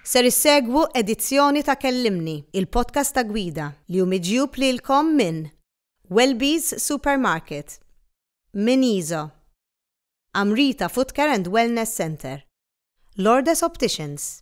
Ser issegwu edizzjoni ta' Kellimni, il-podcast ta' Gwida, li hu miġjub lilkom minn Welby's Supermarket, minn Iso, Amrita Footcare and Wellness Centre, Lourdes Opticians,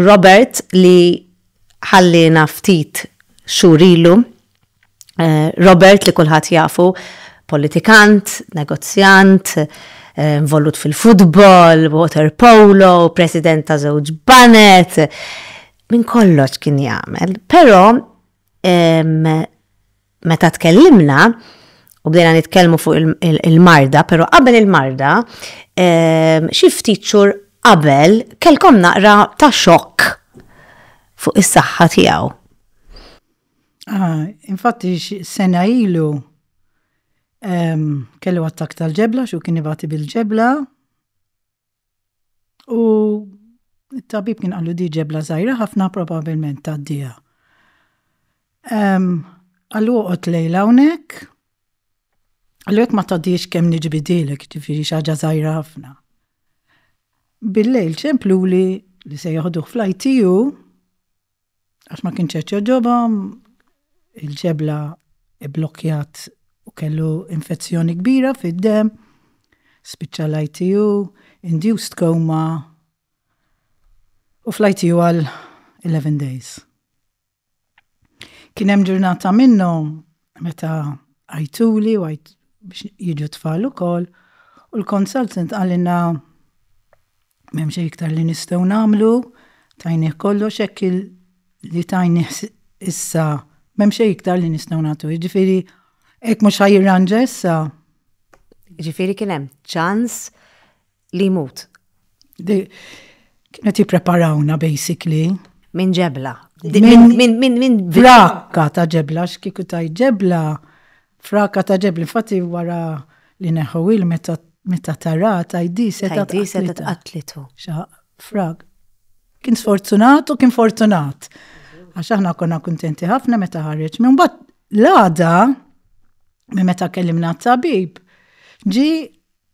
Robert li ħalliena ftit xhur ilu, Robert li kulħadd jafu politikant, negozjant, involut fil-futbol, water polo, president ta' żewġ banet, minn kollox kien jagħmel. Però meta tkellimna u bdejna nitkellmu fuq il-marda, pero qabel il-marda, ehm, xi ftit xhur qabel kelkom naqra ta' xokk fuq is-saħħa tiegħu. Ah, infatti sena ilu ehm, kellu attak tal-ġebla, xu kien ibati bil-ġebla, U it-tabib kien qallu di ġebla żgħira ħafna probabbilment tgħaddiha. Qallu oqgħod lejla hawnhekk. Qallu jekk ma tgħaddix kemm niġbidilek, ġifieri xi ħaġa żgħira ħafna. Bil-lejl ċempluli li se joħduh fl-ITU Għax ma kienx qed jogħġobhom, il-ġebla bblokkjat u kellu infezzjoni kbira fid-demm, spiċċa l-ITU, induced coma, u fl-ITU għal 11 days. Kien hemm ġurnata minnhom meta għajtuli u għajt biex jiġu tfal ukoll u l-consultant għalina m'hemm xejn iktar li nistgħu nagħmlu tajnih kollox hekk li tajnih issa m'hemm xejn iktar li nistgħu nagħtu. Jiġifieri hekk mhux ħajirranġa issa. Jiġifieri kien hemm ċans Li jmut. Kienet jippreparawna basically. Minn ġebla. Minn frakka ta' ġebla, x'kieku ta' ġebla, frakka ta' ġebla, infatti wara li neħu il meta meta tara tajdi seta tqatlitu. Frag. Kien sfortunat u kien fortunat. Għax aħna konna kuntenti ħafna meta ħareġ. Minn bat l-għada, minn meta kellimna t-tabib, ġi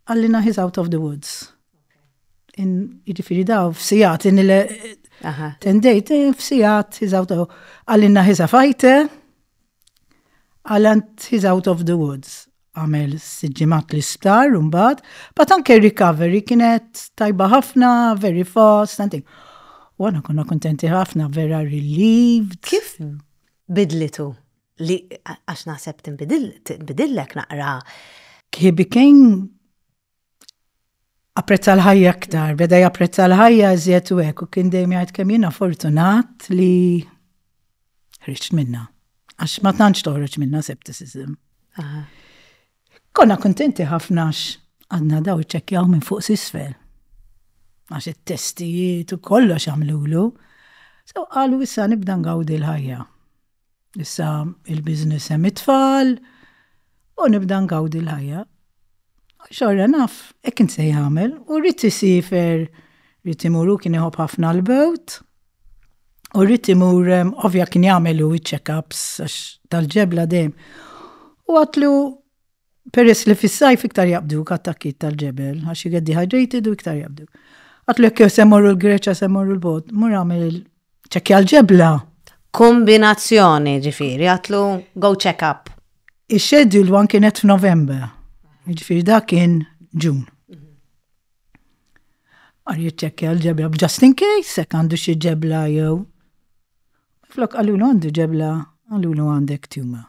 Għallina he's out of the woods. Jiġifieri daw f'sijat li nile tendejt eh, f'sijat he's out of Għallina he's a fighter. Għallant he's out of the woods. Għamel siġimat li sptar un bad. But anke recovery kienet tajba ħafna, very fast, something. U għana konna kontenti ħafna, vera relieved. Kif bidlitu? Li għax naħseb tinbidillek naqra. He became apprezza l-ħajja aktar, beda japprezza l-ħajja iżjed u hekk u kien dejjem jgħid kemm jiena fortunat li ħriġt minnha. Għax ma tantx toħroġ minnha septicism. Konna kontenti ħafna għadna daw iċċekkjaw minn fuq sisfel. Għax it-testijiet u kollox għamlulu. So qalu issa nibda ngawdi l-ħajja. Issa il-biznis hemm it-tfal u nibda ngawdi l-ħajja. Xorra naf, hekk kien se jagħmel u rrid isifer rrid imuru kien iħobb ħafna l-bewt. U rrid imur ovvja kien jagħmel u check-ups tal-ġebla dejjem. U għatlu Peress li fis-sajf iktar jaqbduk attakkiet tal-ġebel għax you get dehydrated u iktar jaqbduk. Għatlu jekk jew se mmorru l-Greċja se mmorru l-bogħod, mur għamel il- ċekkja l-ġebla. Kombinazzjoni, ġifieri, għatlu go check up. Ix-scheduled one kienet f'November. Ġifieri dak kien Ġun. Għar jiċċekkja l-ġebla just in case, jekk għandu xi ġebla jew. Flok għallu għandu ġebla, għallu għandek tumor.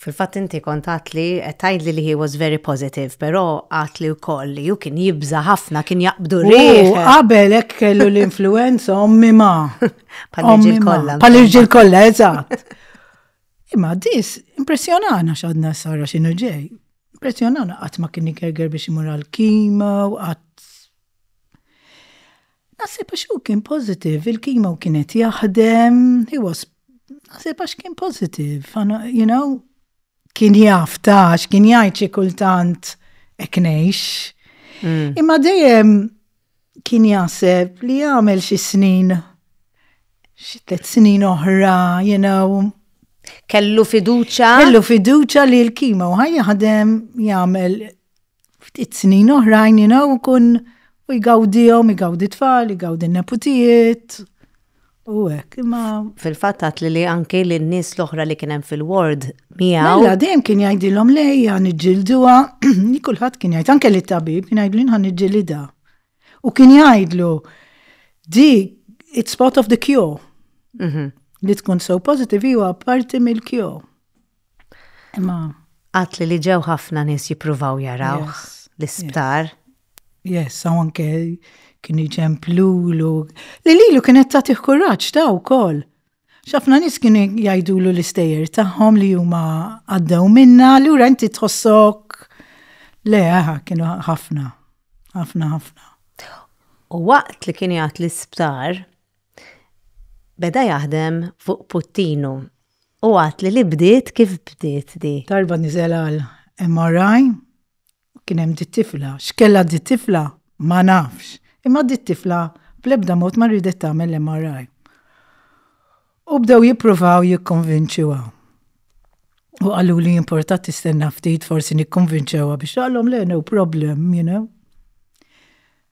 Fil-fatt inti kont għadtli qed tgħidli li he was very positive, però għadtli wkoll li hu kien jibża' ħafna kien jaqbdu rih. Qabel hekk kellu l-influenza ommi ma. Pal-irġiel kollha. Pal-irġiel kollha, eżatt. Imma dis impressjonana x'għadna sara x'inhu ġej. Impressjonana qatt ma kien igerger biex imur għal kima u qatt. Naħseb għax hu kien positive, il-kimo kien qed jaħdem, he was naħseb għax kien positive, you know, kien jaf tax, kien jgħid xi kultant eknejx. Mm. Imma dejjem kien jaħseb li jagħmel xi snin xi tliet snin oħra, you know. Kellu fiduċa. Kellu fiduċa li l-kimo ħaj jaħdem jagħmel ftit snin oħrajn jina u kun u jgawdijom, jgawdi tfal, jgawdi neputijiet. U għek, imma. Fil-fat għat li li anki li n-nis l-oħra li kienem fil-ward miegħu. Mela, mela dejjem kien jgħidilhom lej għan iġġilduha, li kulħadd kien jgħid anke li tabib kien jgħidlu għan iġġilida. U kien jgħidlu di it's part of the cure. Mhm. Li tkun so positive huwa parti mill-cure. Imma għatli li ġew ħafna nies jippruvaw jarawh l-isptar. Yes, u anke kien iġemp lulu. Li lilu kienet tagħtih kuraġġ ta' wkoll. X'ħafna nies kienu jgħidulu l-istejjer tagħhom li huma għaddew minna, lura inti tħossok le kienu ħafna, ħafna ħafna. U waqt li kien jgħat l-isptar, beda jaħdem fuq puttinu U għat li li bdiet kif bdiet di? Darba nizel għal MRI, kien hemm di tifla. X'kella di tifla? Ma nafx. Imma di tifla bl-ebda mod ma riedet tagħmel l-MRI. U bdew jippruvaw jikkonvinċuha. U qaluli importat tistenna ftit forsi nikkonvinċewha biex għalhom le no problem, you know.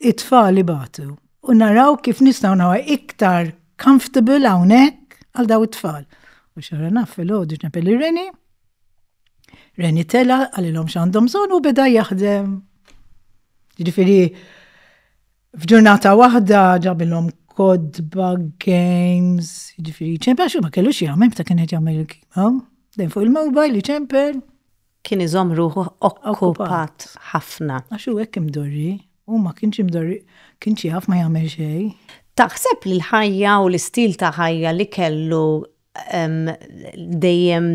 it-tfal ibatu u naraw kif nistgħu nawa iktar comfortable hawnhekk għal daw it-tfal. U xara naf fil-ħodu ġnepel il-reni, reni tela għalilhom x'għandhom bżonn u beda jaħdem. Ġifieri f'ġurnata waħda ġabilhom kodba, games, ġifieri ċempel xi ma kellux jagħmel meta kien qed jagħmel il-kima. Dejn fuq il-mobile li ċempel. Kien iżomm ruħu okkupat ħafna. Għax hu hekk imdorri. Hu ma kienx imdorri, kienx jaf ma jagħmel xejn. Taħseb li l-ħajja u l-istil ta' ħajja li kellu dejjem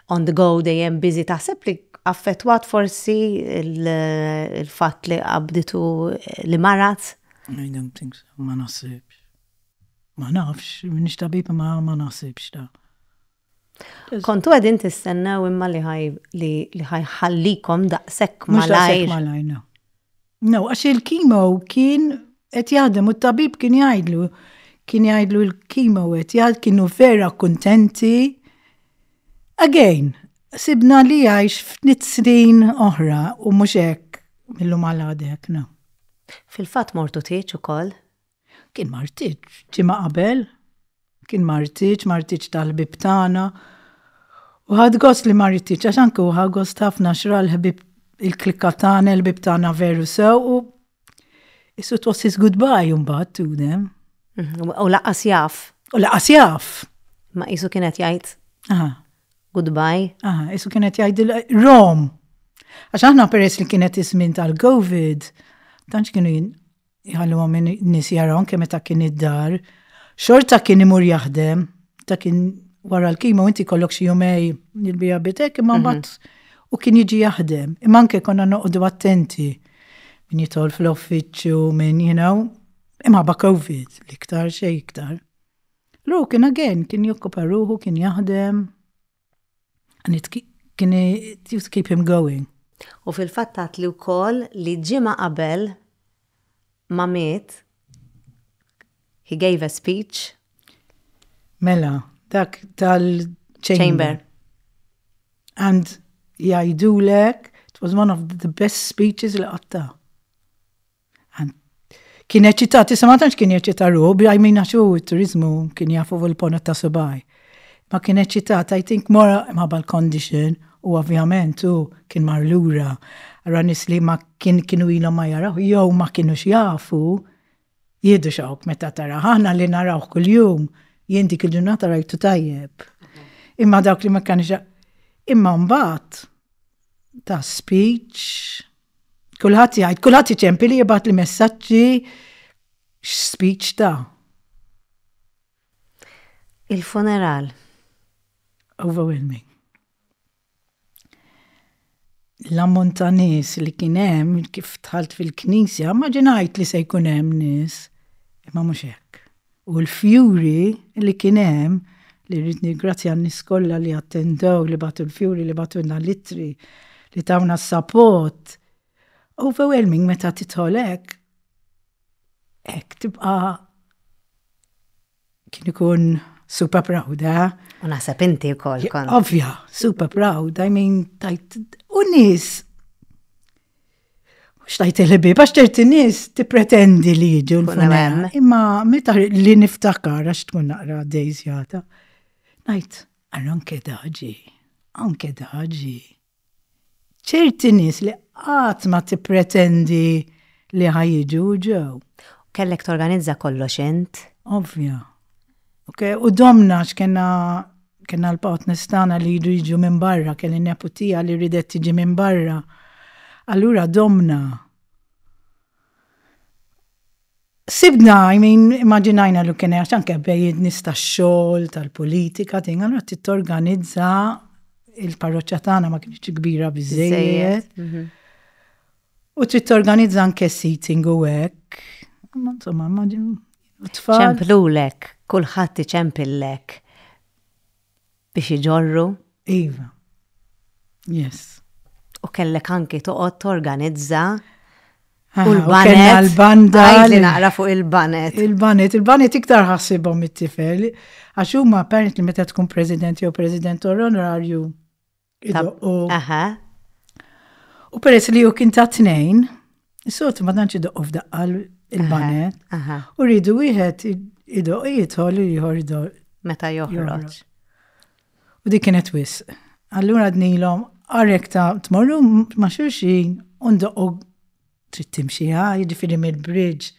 on the go, dejjem busy, taħseb li affettwat forsi l-fatt li qabditu li marad? I don't think so, ma naħsibx. Ma nafx, m'iniex tabib imma ma naħsibx da. Kontu għedin tistennew imma li ħaj li ħajħallikom daqsek malajr. Malajr, no. No, għax il-kimo kien qed jaħdem u t-tabib kien jgħidlu kien jgħidlu l-kimo qed jgħid kienu vera kuntenti. Again, sibna li għajx f'nit snin oħra u mhux hekk mill-lum għal no. Fil-fatt mortu tieċ ukoll Kien ma rtitx, ġimgħa qabel. Kien ma rtitx, ma rtitx tal-ħbieb tagħna. U ħadt gost li ma rtitx, għax anki hu ħa gost ħafna għax ra l-ħbieb, il-klikka tagħna, il-ħbieb tagħna veru sew u Is it was his goodbye imbagħad to them. Mhm, u laqas jaf. U laqas jaf. Ma qisu kien qed jgħid. Aha. Goodbye. Aha, qisu kien qed jgħid Rom. Għax aħna peress li kienet iż-żmien tal-COVID, tantx kienu Jħalluhom minn nies jaraw anke meta kien id-dar. Xorta kien imur jaħdem, ta' kien wara l-kimo inti kollok xi jumej jilbija bitek imma mhm. mbagħad u kien jiġi jaħdem. Imma anke konna noqogħdu attenti min jitol fl-offiċċju minn you know, imma ba' COVID l-iktar xej iktar. Lu kien again kien jokkupa ruħu kien jaħdem. And it can it used to keep him going. U fil-fatt għadtli wkoll li ġimgħa qabel ma miet he gave a speech. Mela, dak tal-chamber. And jgħidulek it was one of the best speeches li qatta. Kien eċitat, issa ma tantx kien eċitat ruħu, bi għajmin għax hu t-turizmu kien jafu fuq il-pona ta' subaj. Ma kien eċitat, I think mora ma bal-condition, u ovvjament hu kien mar lura, ra nis li ma kien kienu ilhom ma jaraw, jew ma kienu xjafu, jiedu xawk meta tara, ħana li narawh kull-jum, jien dik il-ġurnata rajtu tajjeb. Imma dawk li ma kanu xjafu. Imma mbagħad, ta' speech. Kulħadd jgħid, kulħadd iċempi li jibgħat li messaġġi speech ta' Il-funeral. Overwhelming. L-ammont ta' nies li kien hemm kif tħalt fil-knisja, ma ġinajt li se jkun hemm nies, imma mhux hekk. u l-fjuri li kien hemm, li rrid nirgrazzja n-nies kollha li attendew, li bagħtu l-fjuri, li bagħtulna l-ittri, li tawna s-sapot. Overwhelming meta tidħol hekk, hekk tibqa' kien ikun super proud, eh? U naħseb inti wkoll kont. Ovvja, super proud, I mean, tajt. U nies xtajt il-ħbib, għax ċerti nis ti pretendi li jġu l-funem. Imma meta li niftakar għax tkun naqra dejzjata. Najt, għal anke daġi, anke daġi. ċerti nis li għat ma ti pretendi li ħajġu ġew. Kellek torganizza kollox int? Ovvja. Ok, u domna x'kena kena l-partners tagħna li jridu jiġu minn barra, kelli neputija li ridet tiġi minn barra. Allura domna. Sibna, I mean, immaġinajna li kien għax anke bejjed nista xogħol tal-politika, tin għandha titorganizza il-parroċċa tagħna ma kienx kbira biżejjed. Mhm. U trid torganizza anke seating u hekk. Ma insomma, ma tfal. Ċemplulek, kulħadd iċempillek biex iġorru. Iva. Yes. U kellek anki toqgħod torganizza ah, u l-banet. l-banda. Għajdi naqra fuq il-banet. Il-banet, il-banet iktar ħassibhom it-tifel. Għax huma apparently meta tkun president jew president onorarju Idoqqu. Aha. U peress li ju kien ta' tnejn, s-sot ma tantx idoqqu f'daqqa il-banet. U rridu wieħed idoq jidħol u jħor idoq. Meta joħroġ. U dik kienet wis. Allura dnilhom għarek ta' tmorru ma' xulxin u ndoqqu trid timxi ħaj, jiġifieri mill-bridge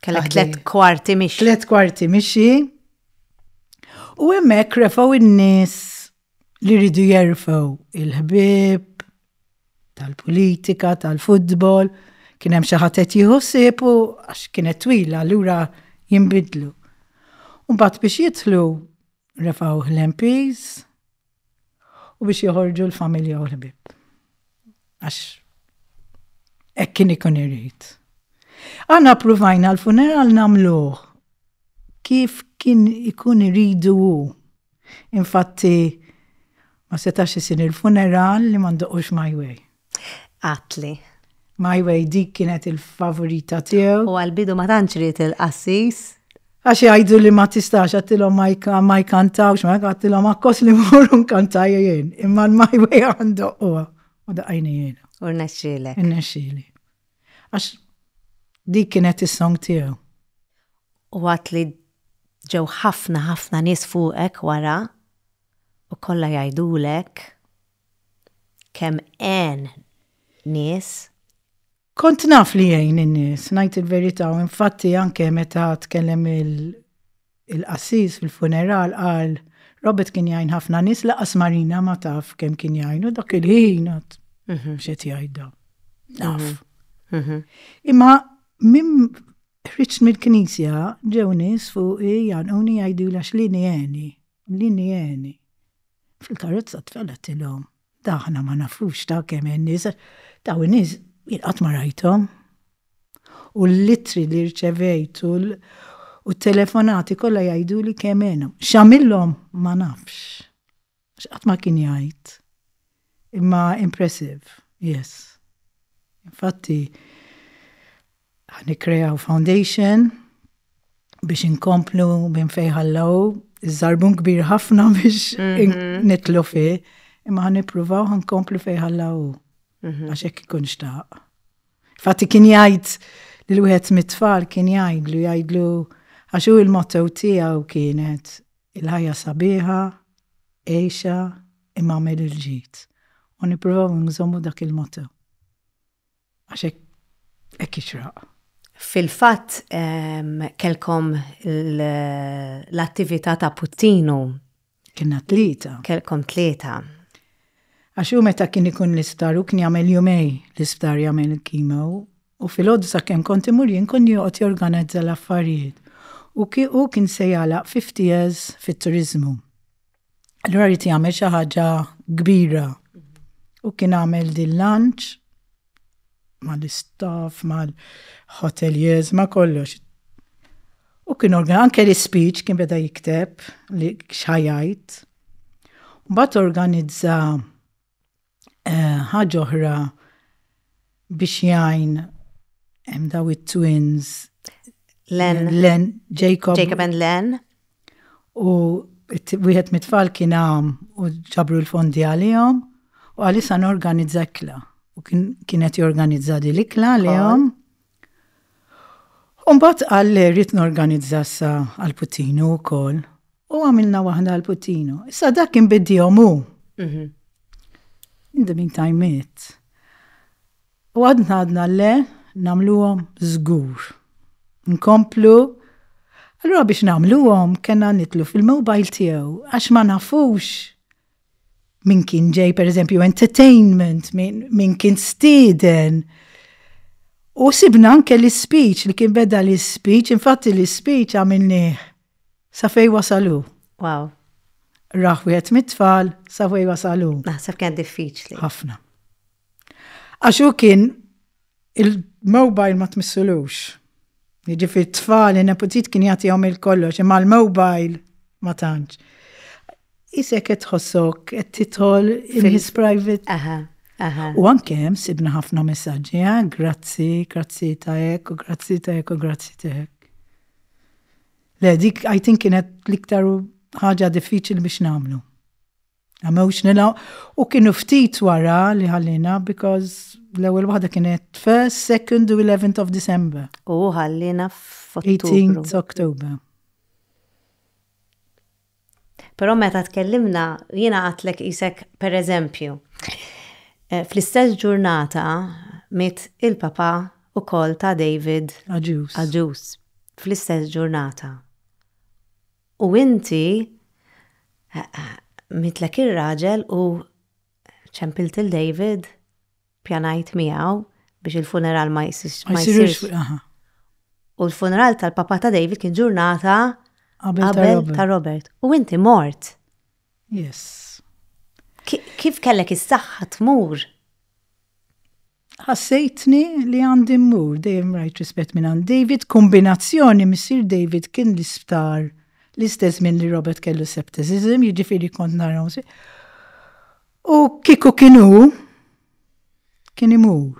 Kellek tlet kwarti mixi. Tlet kwarti mixi. U hemmhekk refaw in-nies li rridu jerfaw il-ħbib tal-politika, tal-futbol, kien hemm xi ħadd qed jieħu u għax kienet twila lura jinbidlu. Mbagħad biex jidħlu refaw l-MPs, u biex joħorġu l-familja u l-ħbieb. Għax hekk kien ikun irid. Aħna provajna l-funeral nagħmluh kif kien ikun iridu hu. Infatti ma setax isir il-funeral li ma ndoqux my way. Għatli. My Way dik kienet il-favorita tiegħu. U għal-bidu ma tantx ried il-qassis. Għax jgħidu li ma tistax għattilhom ma jkantawx, ma għattilhom akkos li morru nkantaj jien. Imma l-My Way għandu huwa. U daqajni jien. U rnexxilek. Rnexxili. Għax dik kienet is-song tiegħu. U għat li ġew ħafna ħafna nies fuqek wara u kollha jgħidulek kemm għen nies. Kont naf li jgħin in-nies, ngħid il-verità, u infatti anke meta tkellem il-qassis fil-funeral qal Robert kien jgħin ħafna nies laqas Marina ma taf kemm kien jgħin u dak il-ħin għad mhm. xed jgħidha. Naf. Mhm. Mhm. Imma minn ħriġt mill-knisja ġew nies fuq jgħanquni jgħidu lax li nieni, li nieni. Fil-karozza t-tfal għedtilhom, Da aħna ma nafux ta' kemm hemm nies, dawn in-nies jien qatt ma rajthom. U l-ittri li rċevejt u t-telefonati kollha jgħiduli kemm għenhom. X'għamilhom ma nafx. Għax qatt ma kien jgħid. Imma impressive, yes. Infatti, Ħa nikkreaw foundation biex inkomplu minn fejn ħallew iż-żarbun kbir ħafna biex mhm. nitlu fi, imma ħa nippruvaw ħa nkomplu fejn ħallew mhm. għax hekk ikun xtaq. Fatti kien jgħid li l-wieħed mit-tfal kien jgħidlu jgħidlu għax hu il-motto tiegħu kienet il-ħajja sabiħa, eħxa, imma għamil il-ġit. U niprofaw nżommu dak il-moto. Għax hekk jixraq. Fil-fatt kellkom l-attività ta' puttinu. Kienna tlieta. Kellkom tlieta. Għax hu meta kien ikun l-isptar hu kien jagħmel jumej l-isptar jagħmel il-kimo u filgħodu sakemm kont imur jien kien joqgħod jorganizza l-affarijiet. U hu kien se jagħlaq fifty years fit-turiżmu. Allura rrit jagħmel xi ħaġa kbira. U kien għamel din lunch mal-istaff, mal-hoteliers, ma kollox. U kien organ, anke l-speech kien beda jikteb li xħajajt. Bat organizza Ħaġa oħra biex jgħin hemm daw it-twins Len, Len Jacob. Jacob and Len. U wieħed mit-tfal kien għam u ġabru l-fondi għalihom u għalissa norganizza kla. U kienet jorganizza di l-ikla għalihom. Umbat għal rrit norganizza sa għal-putinu u koll. U għamilna waħda għal Puttino. Issa dak kien biddihom hu. Mhm. In the meantime it. U għadna għadna le namluhom żgur. Nkomplu. Allura biex namluhom kena nitlu fil-mobile tiegħu għax ma nafux min kien ġej pereżempju entertainment, min kien stiden. U sibna anke l-speech li kien beda l-speech, infatti l-speech għamilnieh Sa fejn wasal hu? Wow. Rah wieħed mit-tfal sa fejn wasal hu. Naħseb kien diffiċli. Ħafna. Għax hu kien il-mobile ma tmissulux. Jiġifieri t-tfal, in-neputit kien jagħtihom il-kollox, imma l-mobile ma tantx. Isek qed tħossok qed titħol in his private. Aha. Aha. U anke hemm sibna ħafna messaġġi, eh? grazzi, grazzi ta' hekk, u grazzi ta' hekk, u grazzi ta' hekk. Le, dik I think kienet l-iktar ħaġa diffiċli biex namlu. Għamewx nila u kienu ftit wara li ħallina because l-ewwel waħda kienet first, second u 11th of December. U ħallina f'18th October. Però meta tkellimna, jiena għadtlek qisek pereżempju. Fl-istess ġurnata miet il-papa wkoll ta' David Agius. Agius. Fl-istess ġurnata. U inti mietlek ir-raġel u ċempilt lil David Pjanajt miegħu biex il-funeral ma jsirx. Ma jsirx. U l-funeral tal-papa ta' David kien ġurnata qabel ta' Robert. U inti mort. Yes. Kif kellek is-saħħa tmur? ħassejtni li għandi mmur dejjem rajt rispett minn għand David, kombinazzjoni missir David kien l-isptar l-istess minn li Robert kellu septicism, jiġifieri kont naraw. U kieku kien hu, kien imur.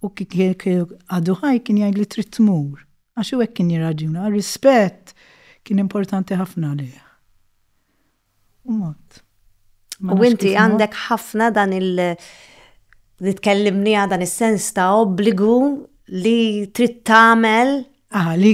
U kieku għadu ħaj kien jgħid li trid tmur. Għax u hekk kien jirraġuna, rispett kien importanti ħafna lih. U mod. U inti għandek ħafna dan il- li tkellimni dan is-sens ta' obbligu li trid tagħmel. Ah, li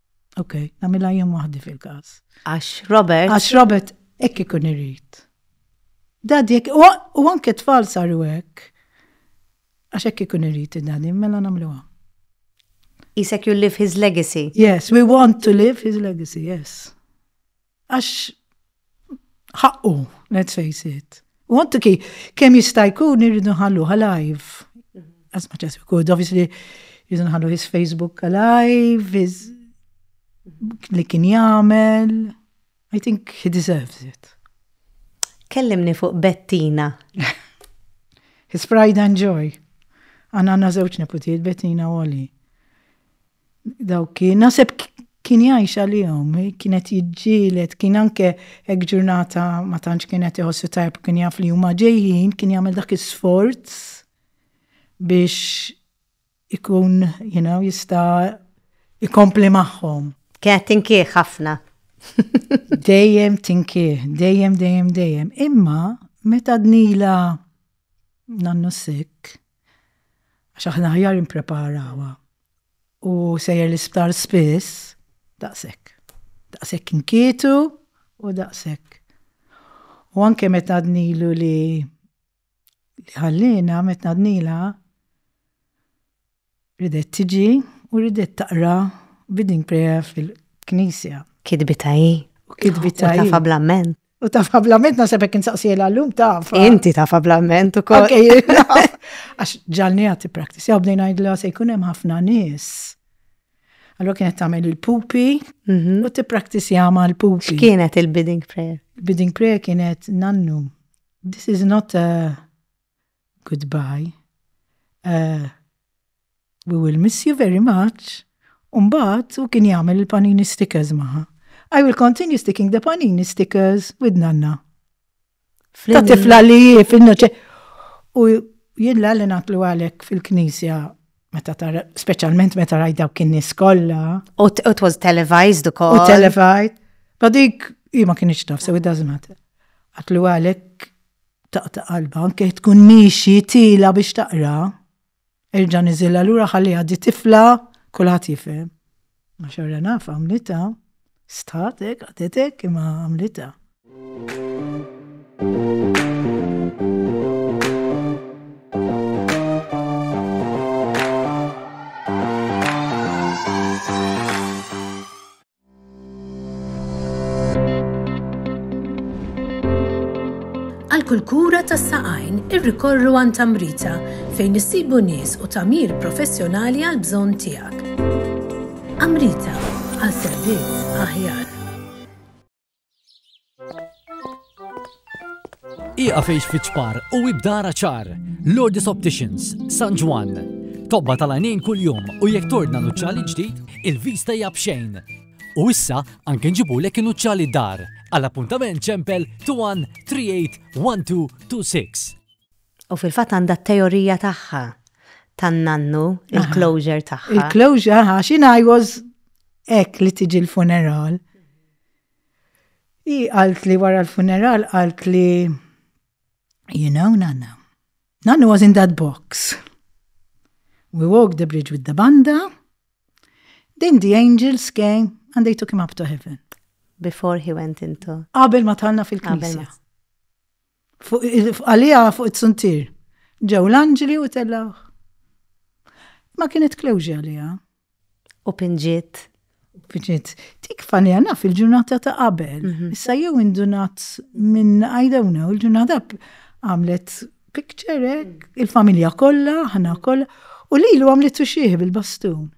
Ok, namila jien waħdi fil-każ. Għax Robert. Għax Robert hekk ikun irid. Dadi hekk u anke tfal saru hekk. Għax hekk ikun irid id-dadi, mela nagħmluha. Isek you live his legacy. Yes, we want to live his legacy, yes. Għax ħaqqu, let's face it. U għantu ki, kem jista' jkun irridu ħallu ħalajv. As much as we could, obviously, irridu ħallu his Facebook ħalajv, his li kien jagħmel. I think he deserves it. Kellimni fuq Bettina. his pride and joy. Għanna għanna zewċ neputiet Bettina u Oli. Dawk kien, naħseb kien jgħix għalihom, kienet jiġġielet, kien anke hekk ġurnata ma tantx kienet iħossu tajb kien jaf li huma ġejjin, kien jagħmel dak is-sforz biex ikun, you know, jista' ikompli magħhom. Kienet tinkih ħafna. dejjem tinkih, dejjem, dejjem, dejjem. Imma, meta dnila nannu sikk, Għax aħna aħjar nippreparawha u sejjer l-isptar spiss, daqshekk. Daqshekk inkietu u daqshekk. U anke meta għadnilu li ħalliena, meta għadnilha, ridet tiġi u ridet taqra reading prayer fil-knisja. Kitbitha hi. U kitbitha hi. U tafha bl-amment. U taf fablament nasab hekk insaqsiela llum taf. Inti taf fablament ukoll. Għax ġalni għati practice, jew bdejn ngħidla se jkun hemm ħafna nies. Allora kienet tagħmel il-pupi mhm. u tippraktizja ma' l-pupi. X'kienet il-bidding prayer? Il-bidding prayer kienet nannu. This is not a goodbye, ahh, we will miss you very much, u mbagħad hu kien jagħmel il-panini stickers magħha. I will continue sticking the panini stickers with nanna. Ta' tifla li jif, u jien l natlu għalek fil-knisja meta tara, specialment meta raj dawk kien nies kollha. U it was televised ukoll. U televised. Badik, i ma kienx taf, so it doesn't matter. Għatlu għalek Taqta' qalbha anke jekk tkun miexi tiela' biex taqra. Erġa' niżilha lura ħalliha di tifla kulħadd jifhem. Ma xorra naf għamlitha. Stħat hekk qagħdet hekk imma għamlitha. Għal kull kura tas-saqajn irrikorru għan tamrita fejn issibu nies u tamir professjonali għal bżonn tiegħek. Amrita għal servizz aħjar. Iqa fejx fiċpar u ibdara ċar. Lourdes Opticians, San Ġwan. Tobba tal-għanin kull-jum u jek tordna nuċċali ġdid, il-vista hija bxejn. U issa anke nġibu lek nuċċali dar. Għall-appuntament ċempel 213826. U fil-fat għanda teorija tagħha tan-nannu, il-closure tagħha. Il-closure, għax I was ek li tiġi l-funeral. Hi qalt li wara l-funeral qalt li You know, Nanna, Nanna was in that box. We walked the bridge with the banda, then the angels came and they took him up to heaven. Before he went into. Qabel ma talna fil-knisja. Għalija fuq it-suntier. Ġew l-anġli u tellawh. Ma kienet klewġi għalija. U pinġiet. Pinġiet. Tik fanija naf il-ġurnata ta' qabel. Mhm. Issa jew indunat minn I don't know, il-ġurnata għamlet picture, il-familja kollha, ħana kollha, u lilu għamlet xieħ bil-bastun.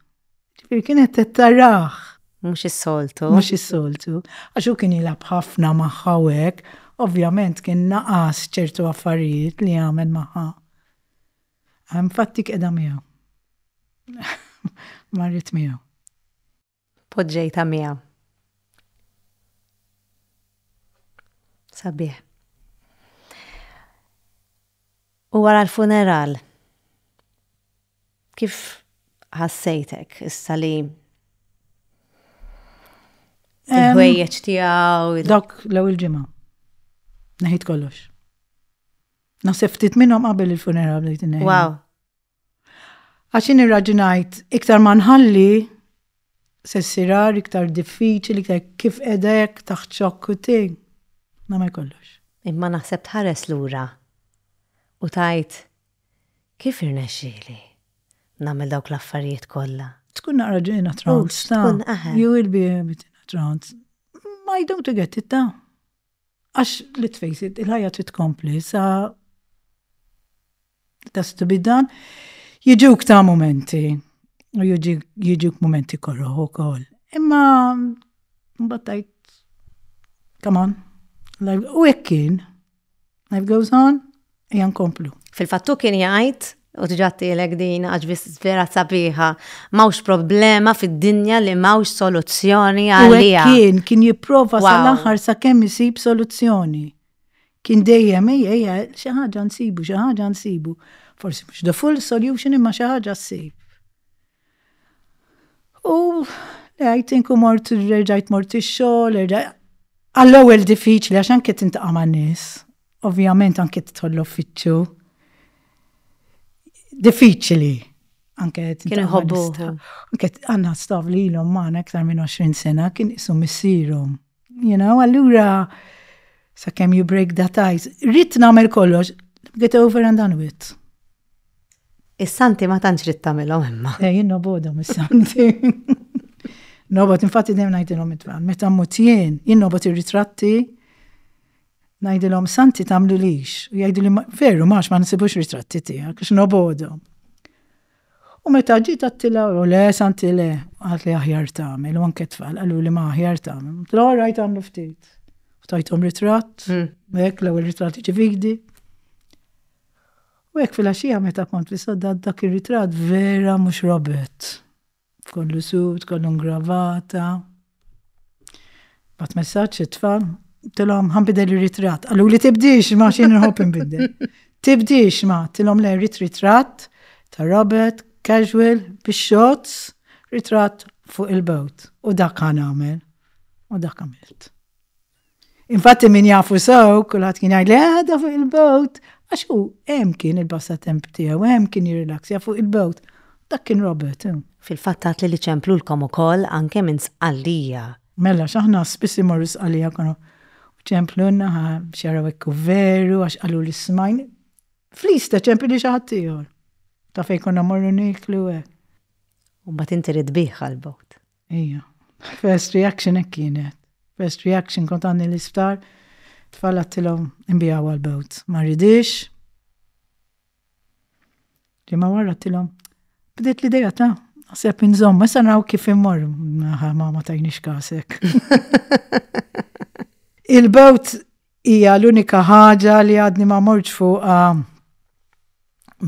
Ġifieri kienet qed tarah. Mhux is-soltu. Mhux is-soltu. Għax hu kien jilgħab ħafna magħha u hekk, ovvjament kien naqas ċertu affarijiet li jagħmel magħha. Infatti qiegħda miegħu. Marret miegħu. Poġġejtha miegħu. Sabiħ. U wara l-funeral, Kif ħassejtek issa li il-ħwejjeġ tiegħu? Dak l-ewwel ġimgħa. Neħid kollox. Naħseb ftit minnhom qabel il-funeral bdejt inneħi. Wow. Għaxin irraġinajt iktar ma nħalli se sirar iktar diffiċli, iktar kif edek taħt xokk u ting. Namel kollox. Imma naħseb tħares lura u tajt Kif irnexxieli nagħmel dawk l-affarijiet kollha? Tkun naqra ġejna trance ta'. Tkun aħe. You will be a bit in a trance. Ma I don't get it ta'. Għax, let's face it, il-ħajja trid tkompli sa' tas to be done. Jiġuk ta' momenti, u jiġuk momenti korroħ u koll. Imma, mbattajt, come on, u ekkin, Life goes on, ejja nkomplu. Fil-fattu kien jgħid, u tġattilek din għax vera sabiħa, mawx problema fid-dinja li mawx soluzzjoni għalija. Kien, kien jipprova sal-aħħar sa' kemm isib soluzzjoni. Kien dejjem ejja, ejja, xi ħaġa nsibu, xi ħaġa nsibu. Forsi mhux the full solution imma xi ħaġa ssib. U għajt inku mort, rġajt mort ix-xogħol, għall-ewwel diffiċli għax anke tintaqa' ma' nies, ovvjament anke tidħol l-uffiċċju. Diffiċli. Anke kien iħobbu. Anke għandna staff li ilhom magħna aktar minn 20 sena kien isu missierhom. You know, allura sakemm you break that ice. Rid nagħmel kollox, get over and done with. Is-santi ma tantx rid tagħmilhom imma. Eh, jien nobodhom is-santi. Nobod infatti dejjem ngħidilhom it-tfal, meta mmut jien, jien nobod ir-ritratti ngħidilhom santi tagħmlu lix. U jgħidu li veru max ma nsibux ritratti tiegħek għax nobodhom. U meta ġiet għattila u le santi le, għat li aħjar tagħmel u anke tfal qalu li ma aħjar tagħmel. Tla rajt għamlu ftit. Ftajthom ritratt, hmm. hekk l-ewwel ritratt ġividi. U hekk filgħaxija meta kont fis-soldad dak ir-ritratt vera mhux Robert. Kollu sud, kollu ngravata. Bat messaġġ it-tfal, tilhom ħanbidel ir-ritratt. Qaluli tibdix ma xi nħobb inbidel. Tibdix ma, tilhom le rit ritratt ta' Robert, casual, bix-shots, ritratt fuq il-bowt. U dak ħa nagħmel. U dak għamilt. Infatti min jafu sew, kulħadd kien jgħid li għadha fuq il-bowt, għax hu hemm kien il-passatemp tiegħu, hemm kien jirrilaksja fuq il-bowt. Dak kien Robert. Eh. Fil-fatt għad li li ċemplulkom ukoll anke minn sqallija. Mela, x'aħna spiss imorru sqallija konu ċemplunna ħa xaraw ekku veru għax qalu li smajn. Flista ċempli li xaħat tiegħor. Ta' fejn konna morru niklu hekk. U mbagħad inti rid bih għal-bowt. Ejja. First reaction hekk kienet. First reaction kont għandni l-isptar, tfal għattilhom inbiegħu għall-bowt. Ma rridix. Ġimgħa wara għattilhom bdiet l-idea ta' naħseb inżomm, issa naraw kif immor. Naħa ma ma tajniex kasek. Il-bowt hija l-unika ħaġa li għadni ma morġ fuqha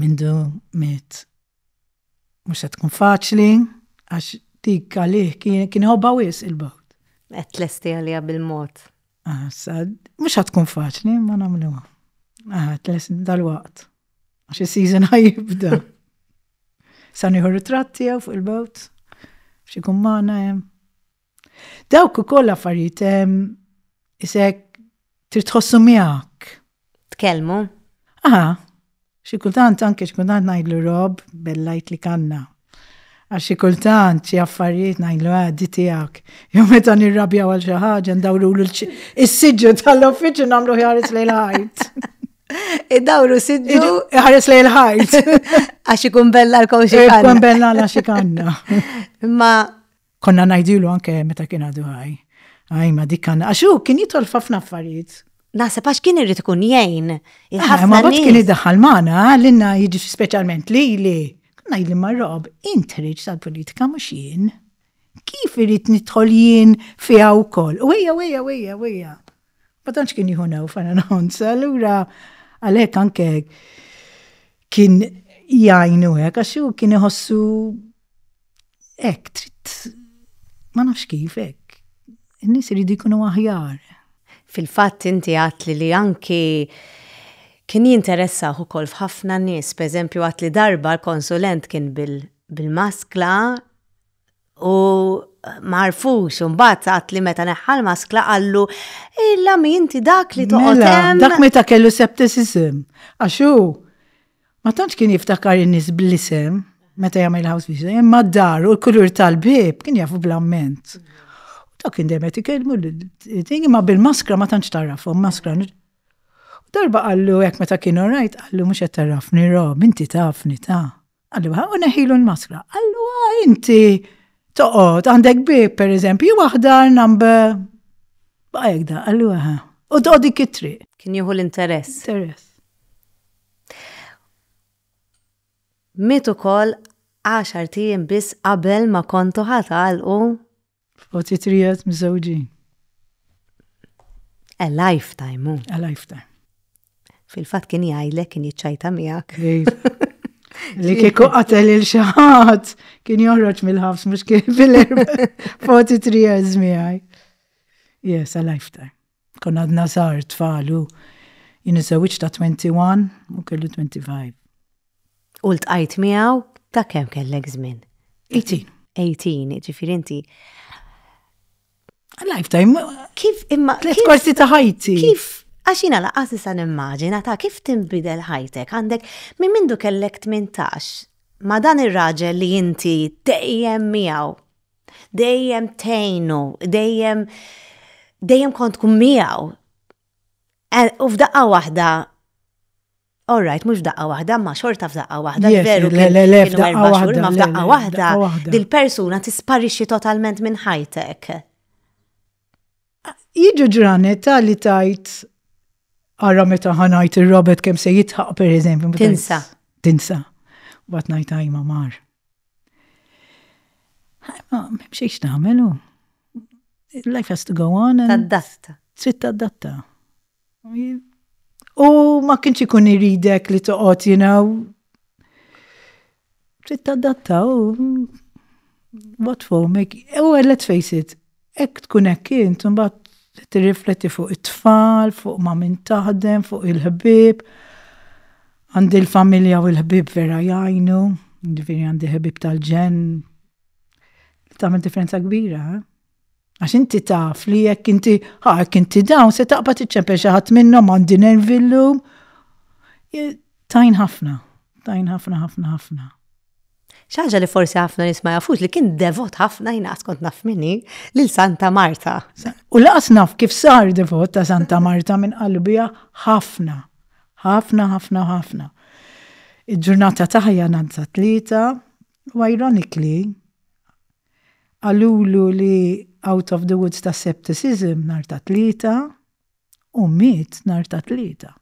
mindu miet Mhux se tkun faċli għax dik għalih kien iħobba wisq il-bawt. Qed tlesti għaliha bil-mod. Sad, mhux se tkun faċli ma nagħmluha. Aha, tlesti dal-waqt. Għax is-season ħajibda. Sa nieħu ritratti jew fuq il-bawt. Xi kummana hemm. Dawk ukoll affarijiet isek trid tħossu miegħek. Tkellmu? Aha, xi kultant anke xi kultant ngħidlu Rob bellajt li kanna. Għax xi kultant xi affarijiet ngħidlu ah di tiegħek. Jew meta nirrabja għal xi ħaġa ndawru l-siġġu tal-uffiċċju nagħmlu ħares lejn ħajt. Id-dawru siġġu ħares lejn ħajt. Għax ikun bella l-kowxi. Ikun bella għal xi kanna. Ma Konna ngħidilu anke meta kien għadu ħaj. Għaj ma dik għandna għax hu kien jidħol f'ħafna affarijiet. Naħseb għax kien irid ikun jgħin. Ah, ma bad kien iddaħħal magħna għallinna jiġi speċjalment li li ngħidli ma' Rob, intriġ tal-politika mhux jien. Kif irid nidħol jien fiha wkoll? U ejja, ejja, ejja, ejja. Ma tantx kien jieħu new fana nħons, allura għalhekk anke kien jgħinu hekk għax kien iħossu Hekk trid ma nafx kif hekk. In-nies iridu jkunu aħjar. Fil-fatt inti għadtli li anki kien jinteressah ukoll f'ħafna nies. Pereżempju għadtli darba l-konsulent kien bil-maskla u ma għarfux. Imbagħad għadtli meta neħħa l-maskla qallu, Illa mi inti dak li toqgħod hemm. Mela, dak meta kellu septicism. Għax hu. Ma tantx kien jiftakar in-nies bl-isem meta jagħmel house visit, imma d-dar u l-kulur tal-bib kien jafu bl-amment. U ta' kien demet ikellmu l-ting imma bil-maskra ma tantx tarafhom maskra. U darba qallu hekk meta kien orajt qallu mhux qed tarafni Rob, inti tafni ta'. Qallu ha u neħilu l-maskra. Qallu ha inti toqgħod għandek bib pereżempju jew aħdar number baqa' hekk da qallu aha. U toqgħod dik it-triq. Kien jieħu l-interess. Interess. Miet ukoll għaxart ijiem biss qabel ma kontu ħa tagħlqu. F'poċi trijet miżżewġin. A lifetime, hu. A lifetime. Fil-fatt kien jgħidlek kien jiċċajta miegħek. Li kieku qatel il xi ħadd kien joħroġ mill-ħabs mhux kien fil-erba' 43 years miegħi. Yes, a lifetime. Konna għadna żgħar tfal u jien iżżewwiġt ta' 21 u kellu 25. U ltqajt miegħu ta' kemm kellek żmien? 18. 18, jiġifieri inti Lifetime. Kif imma. Tliet korsi ta' ħajti. Kif Għax jina laqas nisa nimmaġina ta' kif timbidel ħajtek għandek minn mindu kellek 18 ma' dan ir-raġel li inti dejjem miegħu Dejjem tejnu, dejjem dejjem kont tkun miegħu. Eh, u f'daqqa waħda All right, mux f'daqqa wahda, ma xorta f'daqqa wahda, veru f'daqqa wahda, ma f'daqqa wahda, dil-persuna tisparixxi totalment minn ħajtek. Jiġu ġranet li tajt għarra meta ħanajt il-Robert kem se jitħaq per eżempju. Tinsa. Tinsa. Bat najt għajma mar. Ma, memxiex taħmelu. Life has to go on. Taddatta. Trid taddatta. U ma kienx ikun iridek li toqgħod you know. Trid tadatta u what for make. U let's face it, hekk tkun hekk int imbagħad tirrifletti fuq it-tfal, fuq ma' min taħdem, fuq il-ħbieb. Għandi l-familja u l-ħbieb vera jgħinu, jiġifieri għandi ħbieb tal-ġenn. Tagħmel differenza kbira, eh? Għax inti taf li jekk inti ħak inti dawn se taqbad iċċempel xi ħadd minnhom għandi nervi llum. Tajn ħafna, tajn ħafna ħafna ħafna. ċaġa li forsi ħafna nisma jafux li kien devot ħafna jina kont naf minni lil Santa Marta. U laqas naf kif sar devot ta' Santa Marta minn qalbija ħafna. ħafna ħafna ħafna. Il-ġurnata taħja nanza tlieta u ironically Qalulu li out of the woods ta' septicism nhar ta' Tlieta u miet nhar ta' Tlieta.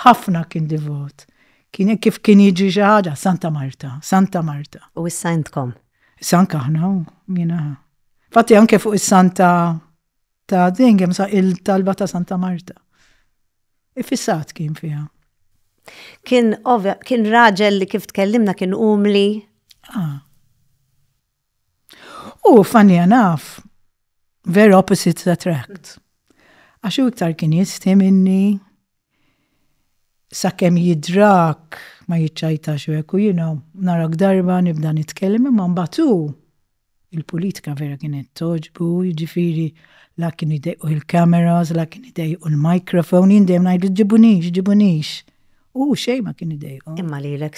Ħafna kien divot. Kien hekk kif kien jiġri xi ħaġa, Santa Marta, Santa Marta. U issa intkom? Issa anke aħna, jiena. Infatti anke fuq is-Santa. ta' Dengham sa' il-talba ta' Santa Marta. Ifissat kien fiha. Kien ovja, kien raġel li kif tkellimna kien umli. Ah. U funny enough, vera opposites attract. Għax iktar kien jisti minni, Sakemm jidhrak ma jiċċajtax u hekk u jiena narak darba nibda nitkellem imma mbagħad hu, il-pulitika vera kienet togħġbu jiġifieri la kien idejqu l-cameras, la kien idejqu l-microphone, jien dejjem ngħidlu ġibunix, ġibunix. U hu xejn ma kien idejqu. Imma lilek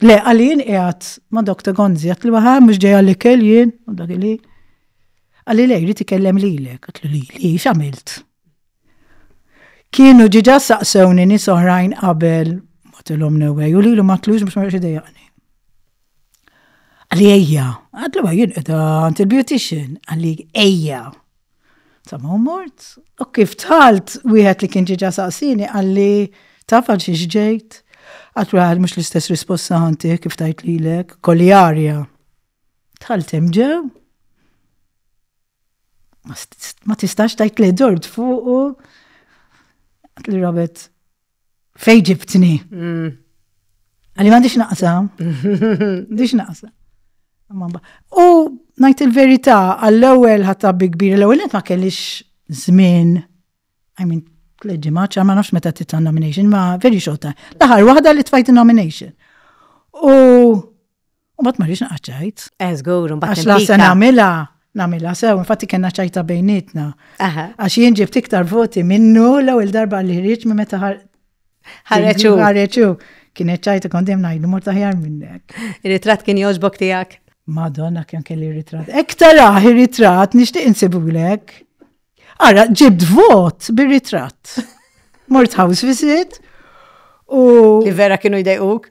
Le, għalli jien qiegħed ma' Dr. Gonzi, għat li waħa mhux ġejja l-ikel jien, u dak li. Għalli lej, rrid ikellem lilek, għat li li, x'għamilt? Kienu ġiġa saqsewni nies oħrajn qabel ma tilhom newwej u lilu ma tlux biex ma rridx idejjaqni. Għalli ejja, għat li jien qiegħda għand il-beautician, għalli ejja. Sa ma mort, u kif dħalt, wieħed li kien ġieġa saqsieni qalli, Taf għal xiex ġejt? Għad kull ħadd mhux l-istess risposta ħa ntih kif tgħid lilek, kolli arja. Dħalt hemm ġew. Ma tistax tgħid li dort fuqu. Għatli Robert, Fej ġibtni. Mm. Għalli m'għandix naqsa. M'għandix naqsa. U ngħid il-verità għall-ewwel ħatta bi kbir l-ewwel ma kellix żmien. I mean, tleġi maċċa, ma nafx meta tit nomination, ma very short time. L-aħħar waħda li tfajt nomination. U U mbagħad ma rridx naqgħad ċajt. Eh, żgur, u mbagħad. Għax la se nagħmilha namila sew, infatti kena ċajta bejnietna. Għax jien ġibt iktar voti minnu l-ewwel darba li ħriġ minn meta ħareċu. Ħareċu. Kienet ċajta kont dejjem ngħidu mort aħjar minnek. Ir-ritratt kien jogħġbok tiegħek. Madonna kemm kelli ritratt. Ek taraħ ir-ritratt nixtieq insibulek. Ara, ġibt vot bir-ritratt. Mort house visit u. Li vera kienu jdejquk?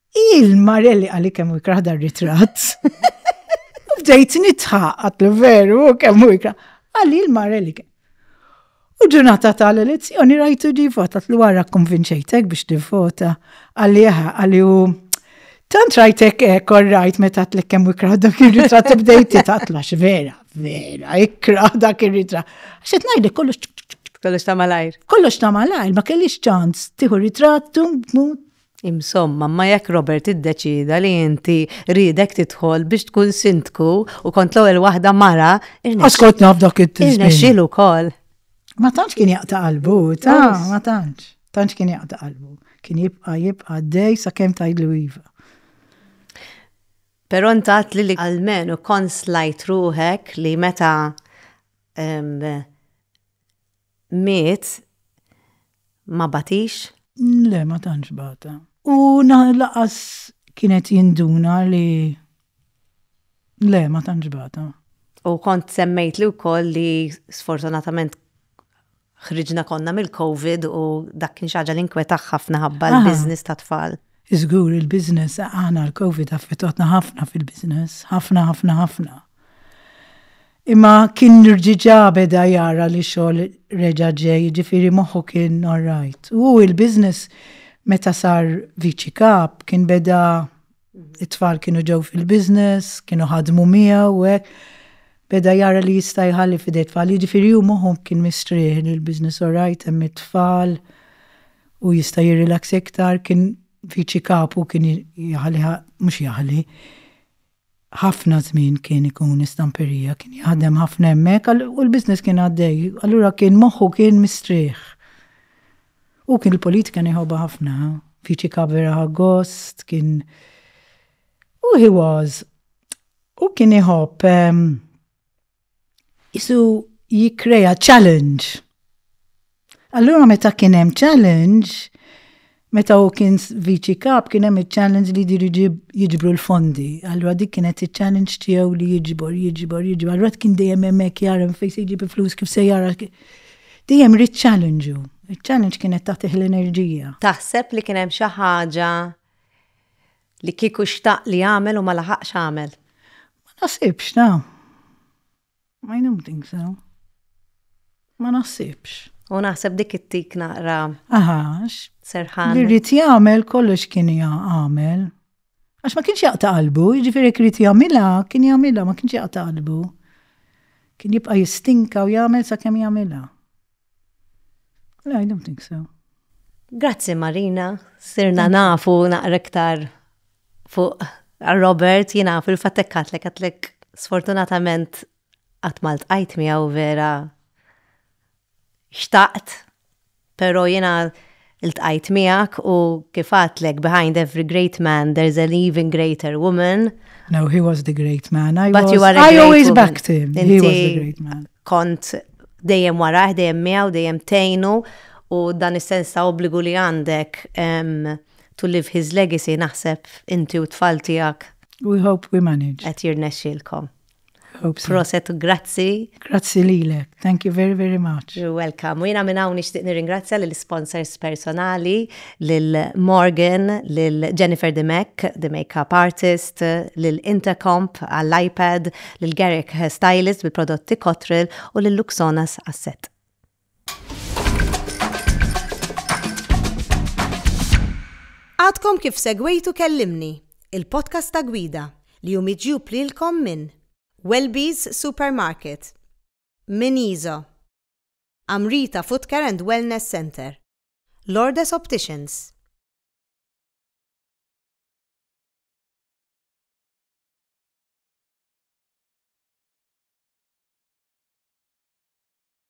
Il-Marelli għalli kemm ikraħ dar ritratt. Bdejt nitħa għatlu veru kemm ikraħ. Għalli il-Marelli kemm. U ġurnata tal-elezzjoni rajtu di vota tlu għara konvinċejtek biex tivvota. Għalli għaha, għalli u tant rajtek eh, korrajt meta tlek kemm ikraħ dak ir-ritratt bdejt titqatla vera, vera, ikraħ dak ir-ritratt. Xet ngħidlek kollox Kollox ta' malajr. Kollox ta' malajr, ma kellix ċans. Tiħu ritrattu, Insomma, imma jekk Robert iddeċieda li inti riedek tidħol biex tkun sindku u kont l-ewwel waħda mara, Askot naf dak it-tizmin. Irnexxielu wkoll. Ma tantx kien jaqta' qalbu, ta' ma tantx. Tantx kien jaqta' qalbu. Kien jibqa' jibqa' dej sakemm tgħidlu iva. Però ntat li li għalmen u konslajt ruħek li meta miet ma batix? Le, ma tantx bata. U laqas kienet jinduna li le, ma tantx bata. U kont semmejt li wkoll li sfortunatament ħriġna konna mill-COVID u dak kien xaġa li nkwetaħ ħafna ħabba l-biznis ta' tfal. Iżgur il-biznis għana l-COVID affetotna ħafna fil-biznis, ħafna, ħafna, ħafna. Imma kien rġiġa beda jara li xogħol reġa' ġej, jiġifieri moħħu kien orrajt. U hu il-business meta sar Viċi Kap kien beda it-tfal kienu ġew fil-business, kienu ħadmu miegħu u hekk. Beda jara li jista' jħalli f'idejh tfal, jiġifieri hu moħħu kien mistrieħ li l-business orrajt hemm it-tfal u jista' jirrilaxxa iktar, kien Viċi Kap u kien jaħliha, mhux jaħli, ħafna żmien kien ikun istamperija, kien jaħdem ħafna hemmhekk u l-business kien għaddej, allura kien moħħu kien mistrieħ. U kien il-politika nieħobha ħafna, fiċi kavera ħagost, kien. U he was. U kien iħobb. Ehm, isu jikkrea challenge. Allura meta kien hemm challenge, meta u kien viċi kap kien hemm il-challenge li jdiru jiġbru l-fondi. Allura dik kienet il-challenge tiegħu li jiġbor, jiġbor, jiġbor. Allura kien dejjem hemmhekk jara fejn se jġib il-flus kif se jara. Dejjem rrid challenge u. Il-challenge kienet tagħtih l-enerġija. Taħseb li kien hemm xi ħaġa Li kieku xtaq li għamel u ma laħaqx għamel. Ma naħsibx, ta. I don't think so. Ma naħsibx. U naħseb dik it-tik naqra. Aħax. Serħan. Li rrit jagħmel kollox kien jagħmel. Għax ma kienx jaqta' qalbu, jiġifieri rrit jagħmilha, kien jagħmilha, ma kienx jaqta' qalbu. Kien jibqa' jistinka u jagħmel sakemm jagħmilha. No, I don't think so. Grazzi Marina, sirna nafu naqra iktar fuq Robert, jina fil-fattek katlek, katlek sfortunatament għatmalt għajt miegħu vera xtaqt, pero jina Iltqajt miegħek u kif għadtlek behind every great man there's an even greater woman. No, he was the great man. I But was, you are I always woman. backed him. He was the great man. Kont dejjem warah, dejjem miegħu, dejjem tejnu u dan is-sens ta' obbligu li għandek to live his legacy naħseb inti u tfal tiegħek. We hope we manage. Qed jirnexxilkom. Proset u grazzi. Grazzi lilek. Thank you very, very much. You're welcome. U jina minn hawn nixtieq nirringrazzja lill sponsors personali, lil Morgan, lil Jennifer Dimek, the makeup artist, lil Intercomp għall-iPad, lil Garrick Hairstylist bil-prodotti Cotril u lil Luxonas għas-set. Għadkom kif segwejtu Kellimni, il-podcast ta' gwida li hu miġjub lilkom minn Welby's Supermarket, minn Iso, Amrita Footcare and Wellness Centre, Lourdes Opticians,